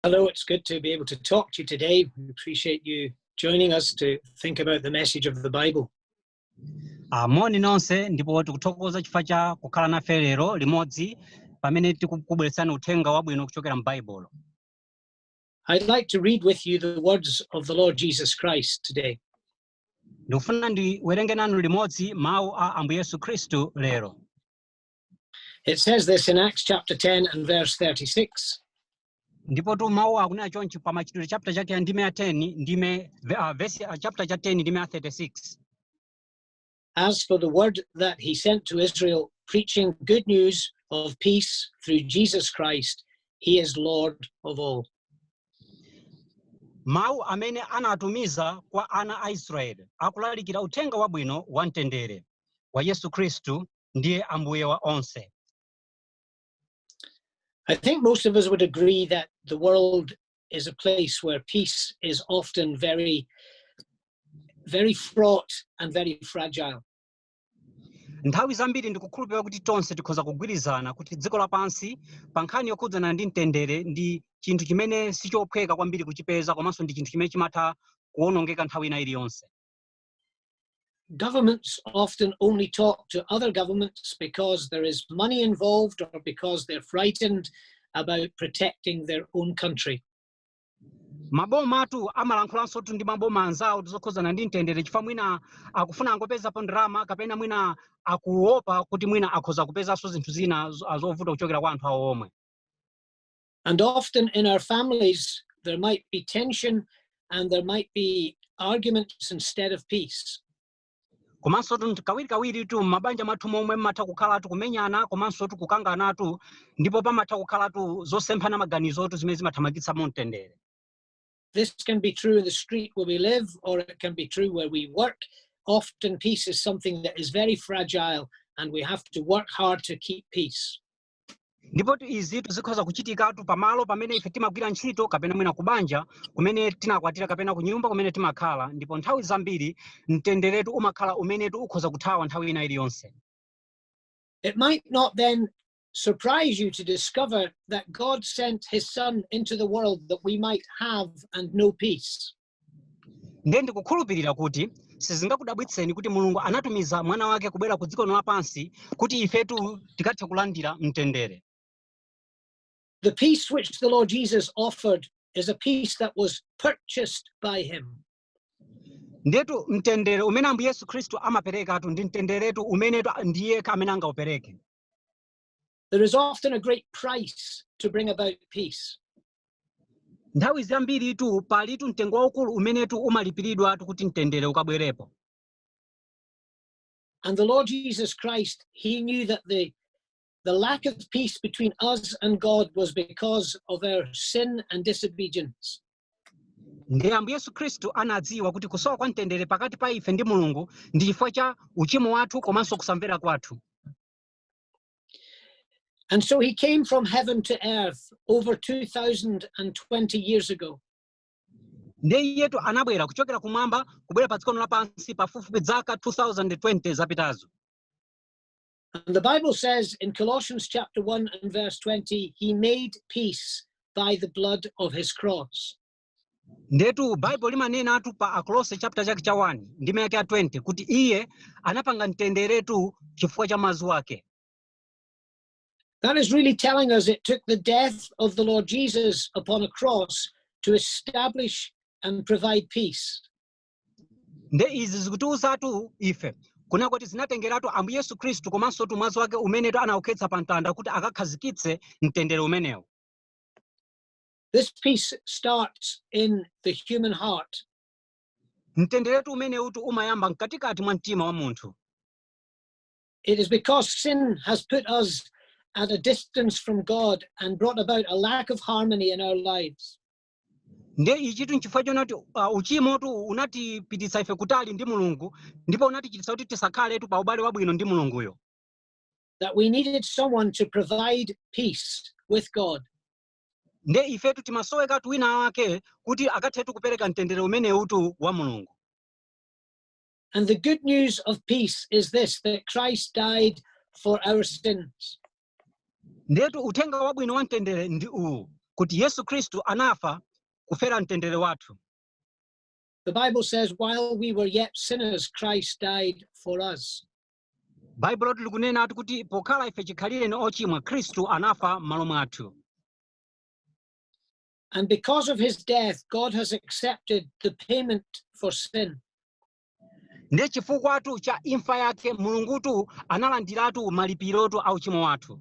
Hello, it's good to be able to talk to you today. We appreciate you joining us to think about the message of the Bible. Ah, moni nonse ndipo tikuthokoza chifukwa cha kukhala nafe lero limodzi pamene tikukubweretsani uthenga wabwino kuchokera m'baibulo I'd like to read with you the words of the Lord Jesus Christ today. ndikufuna ndiwerenge nanu limodzi mawu a ambuye yesu khristu lero It says this in Acts chapter 10 and verse 36. ndipotu mawu akunena chonchi pa machitidwe chapter chake ya ndime ya 10 ndime ve- ah, verse ah, chapter cha 10 ndime ya 36 As for the word that he sent to Israel, preaching good news of peace through Jesus Christ, he is Lord of all. mawu amene anatumiza kwa ana a israeli akulalikira uthenga wabwino wa mtendere wa yesu khristu ndiye Ambuye wa onse. I think most of us would agree that the world is a place where peace is often very, very fraught and very fragile. Nthawi zambiri ndikukhulupirira kuti tonse tikhoza kugwirizana kuti dziko lapansi pa nkhani yokhudzana ndi mtendere ndi chinthu chimene sichophweka kwambiri kuchipeza komanso ndi chinthu chimene chimatha kuwonongeka nthawi ina iliyonse. governments often only talk to other governments because there is money involved or because they're frightened about protecting their own country. mabomatu amalankhulansotu ndi maboma anzawo zokhudzana ndi mtendere chifukwa mwina akufuna angopezapo ndalama kapena mwina akuopa kuti mwina akhoza kupezanso zinthu zina zovuta kuchokera kwa anthu awo omwe And often in our families, there might be tension and there might be arguments instead of peace. komanso tu kawirikawiri tu m'mabanja mwathu momwe mmatha kukhala tu kumenyana komanso tu kukangana tu ndipo pamatha kukhala tu zosemphana maganizo tu zimene zimathamangitsa mu mtendere This can be true in the street where we live, or it can be true where we work. Often, peace is something that is very fragile, and we have to work hard to keep peace. ndipotu izitu zikhoza kuchitikatu pamalo pamene ife timagwira ntchito kapena mwina kubanja kumene tinakwatira kapena kunyumba kumene timakhala ndipo nthawi zambiri mtenderetu umakhala umenetu ukhoza kuthawa nthawi ina iliyonse It might not then surprise you to discover that God sent his son into the world that we might have and know peace. Ndiye ndikukhulupirira kuti sizingakudabwitseni kuti Mulungu anatumiza mwana wake kubwera ku dziko lino lapansi kuti ifetu tikathe kulandira mtendere. The peace which the Lord Jesus offered is a peace that was purchased by him. Ndiyetu mtendere umene Ambuye Yesu Khristu amaperekatu ndi mtenderetu umenetu ndi yekha amene angaupereke. There is often a great price to bring about peace. nthawi zambiritu palitu mtengo waukulu umenetu umalipiridwatu kuti mtendere ukabwerepo And the Lord Jesus Christ, he knew that the, the lack of peace between us and God was because of our sin and disobedience. ndiye ambuye yesu khristu anadziwa kuti kusowa kwa mtendere pakati pa ife ndi mulungu ndi chifukwa cha uchimo wathu komanso kusamvera kwathu And so he came from heaven to earth over 2,020 years ago. ndiye iyetu anabwera kuchokera kumwamba kubwera pa dziko lino lapansi pafupifupi dzaka 2020 zapitazo And the Bible says in Colossians chapter 1 and verse 20, he made peace by the blood of his cross. ndetu baibulo limanenatu pa akolose chapter chake cha 1 ndime yake ya 20 kuti iye anapanga mtenderetu chifukwa cha mwazi wake That is really telling us it took the death of the Lord Jesus upon a cross to establish and provide peace. nde izi zikutiuzatu ife kunena kuti zinatengeratu ambuye yesu khristu komanso tu mwazi wake umenetu anaukhetsa pa mtanda kuti akakhazikitse mtendere umenewu This peace starts in the human heart. mtenderetu umenewutu umayamba mkatikati mwa mtima wa munthu It is because sin has put us at a distance from God and brought about a lack of harmony in our lives. nde ichitu nchifukwa chonena kuti uh, uchimotu unatipititsa ife kutali ndi mulungu ndipo unatichititsa kuti tisakhaletu pa ubale wabwino ndi mulunguyo That we needed someone to provide peace with God. nde ifetu timasowekatu wina wake kuti akathetu kupereka mtendere umenewutu wa mulungu And the good news of peace is this that Christ died for our sins. Ndetu uthenga wabwino wa mtendere ndi uwu kuti Yesu Khristu anafa kufera mtendere wathu. The Bible says while we were yet sinners Christ died for us. baibulotu likunenatu kuti pokhala ife chikhalireni ochimwa khristu anafa m'malo mwathu And because of his death, God has accepted the payment for sin. ndiye chifukwatu cha imfa yake mulungutu analandiratu malipirotu a uchimo wathu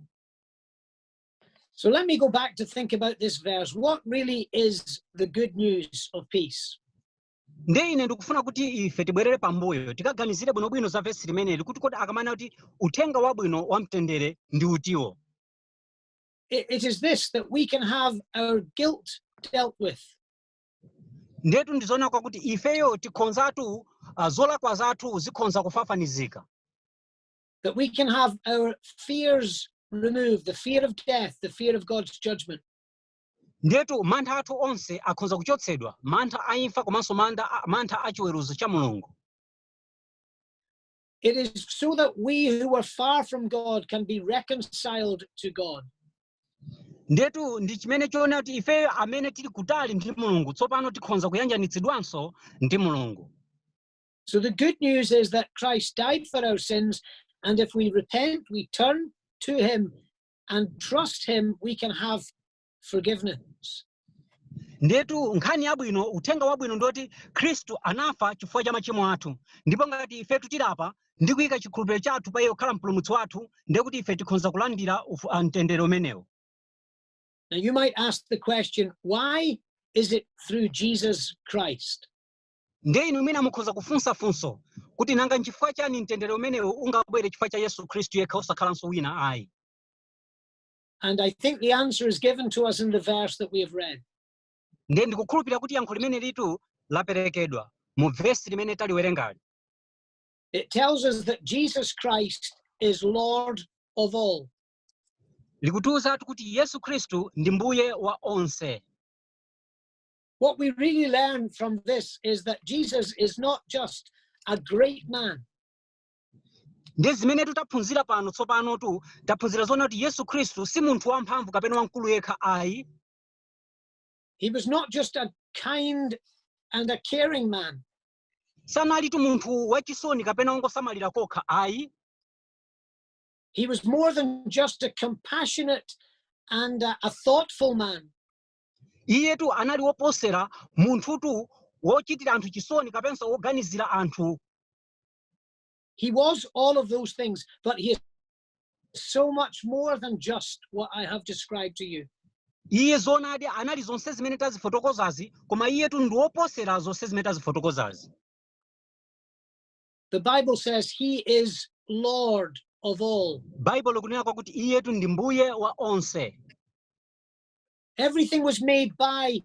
So let me go back to think about this verse. What really is the good news of peace? ndiye ine ndikufuna kuti ife tibwerere pambuyo tikaganizire bwinobwino za vesi limeneli kuti kodi akamanena kuti uthenga wabwino wa mtendere ndi uti uwo It, it is this that we can have our guilt dealt with. ndetu ndizoona kwakuti ifeyo tikhonzatu ah, zolakwa zathu zikhonza kufafanizika that we can have our fears removed the fear of death, the fear of God's judgment. Ndiyetu mantha athu onse akhonza kuchotsedwa, mantha a imfa komanso manda a, mantha a chiweruzo cha Mulungu. It is so that we who were far from God can be reconciled to God. Ndiyetu ndi chimene choonadi kuti ifeyo amene tili kutali ndi Mulungu tsopano tikhonza kuyanjanitsidwanso ndi Mulungu. So the good news is that Christ died for our sins, and if we repent, we turn to him, and trust Him, we can have forgiveness. ndiyetu nkhani yabwino uthenga wabwino ndoti khristu anafa chifukwa cha machimo athu ndipo ngati ife tilapa ndi kuyika chikhulupiriro chathu pa iye kukhala mpulumutsi wathu ndiye kuti ife tikhonza kulandira ufu- ah, mtendere umenewo Now, you might ask the question why is it through Jesus Christ? Ndiye inu mwina mukhoza kufunsa funso kuti nanga nchifukwa chani mtendere umenewo ungabwere chifukwa cha Yesu Khristu yekha osakhalanso wina ayi? And I think the answer is given to us in the verse that we have read. Ndiye ndikukhulupirira kuti yankho limenelitu laperekedwa mu vesi limene taliwerengali. It tells us that Jesus Christ is Lord of all. Likutiuzatu kuti Yesu Khristu ndi Mbuye wa onse. What we really learn from this is that Jesus is not just a great man, ndiye zimene tu taphunzira pano tsopanotu taphunzira zoonadi kuti yesu khristu si munthu wamphamvu kapena wamkulu yekha ayi he was not just a kind and a caring man, sanalitu munthu wachisoni kapena wongosamalira kokha ayi he was more than just a compassionate and a, a thoughtful man. iyetu anali woposera munthutu wochitira anthu chisoni kapenanso woganizira anthu He was all of those things, but he is so much more than just what I have described to you. iye zoonadi anali zonse zimene tazifotokozazi koma iyetu ndi woposera zonse zimene tazifotokozazi The Bible says he is Lord of all. baibulo likunena kwakuti iyetu ndi mbuye wa onse Everything was made by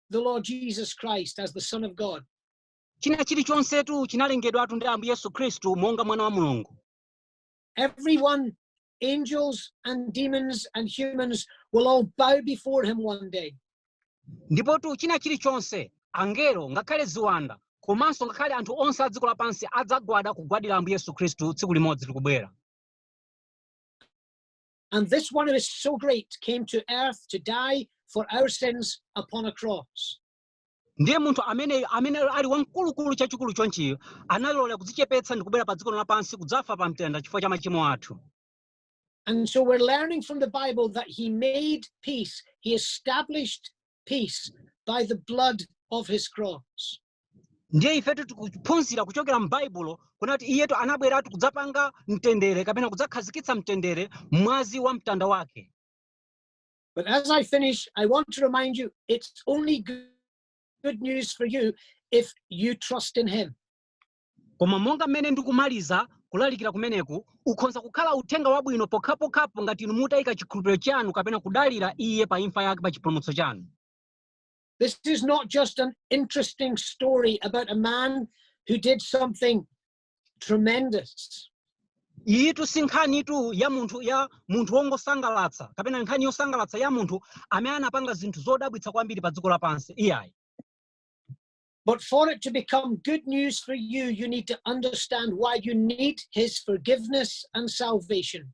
the Lord Jesus Christ as the Son of God. china chilichonsetu chinalengedwatu ndi ambuye yesu khristu monga mwana wa mulungu Everyone, angels and demons and humans, will all bow before him one day. ndipotu china chilichonse angelo ngakhale ziwanda komanso ngakhale anthu onse a dziko lapansi adzagwada kugwadira ambuye yesu khristu tsiku limodzi likubwera And this one who is so great came to earth to die for our sins upon a cross. ndiye munthu ameneyo amene ali wamkulukulu chachikulu chonchiyo analola kudzichepetsa ndi kubwera pa dziko lapansi kudzafa pa mtanda chifukwa cha machimo athu And so we're learning from the Bible that he made peace. He established peace by the blood of his cross. ndiye ifetu tikuphunzira kuchokera m'baibulo kunena kuti iyetu anabweratu kudzapanga mtendere kapena kudzakhazikitsa mtendere mwazi wa mtanda wake But as I finish, I want to remind you it's only good news for you if you trust in him. Koma monga mmene ndikumaliza kulalikira kumeneku, ukhonza kukhala uthenga wabwino pokhapokhapo ngati inu mutayika chikhulupiriro chanu kapena kudalira Iye pa imfa yake pa chipulumutso chanu. This is not just an interesting story about a man who did something tremendous. Iyitu si nkhanitu ya munthu ya munthu wongosangalatsa kapena nkhani yosangalatsa ya munthu amene anapanga zinthu zodabwitsa kwambiri pa dziko lapansi iyayi. But for it to become good news for you, you need to understand why you need his forgiveness and salvation.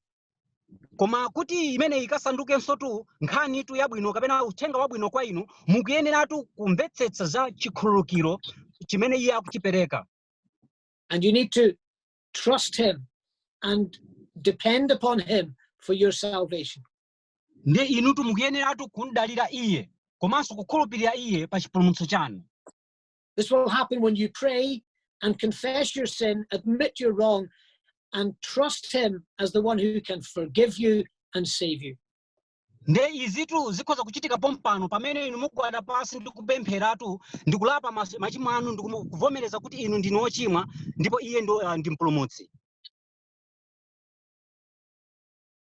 koma kuti imeneyi ikasandukensotu nkhanitu yabwino kapena uthenga wabwino kwa inu mukuyeneratu kumvetsetsa za chikhululukiro chimene iye akuchipereka And you need to trust him and depend upon him for your salvation. ndi inutu mukuyeneratu kumdalira iye komanso kukhulupirira iye pa chipulumutso chanu This will happen when you pray and confess your sin, admit you're wrong, and trust Him as the one who can forgive you and save you. nde izitu zikhoza kuchitika pompano pamene inu mugwada pansi ndi kupempheratu ndi kulapa mas- machimo anu ndi kumu- kuvomereza kuti inu ndinu ochimwa ndipo iye ndo, ah, ndi mpulumutsi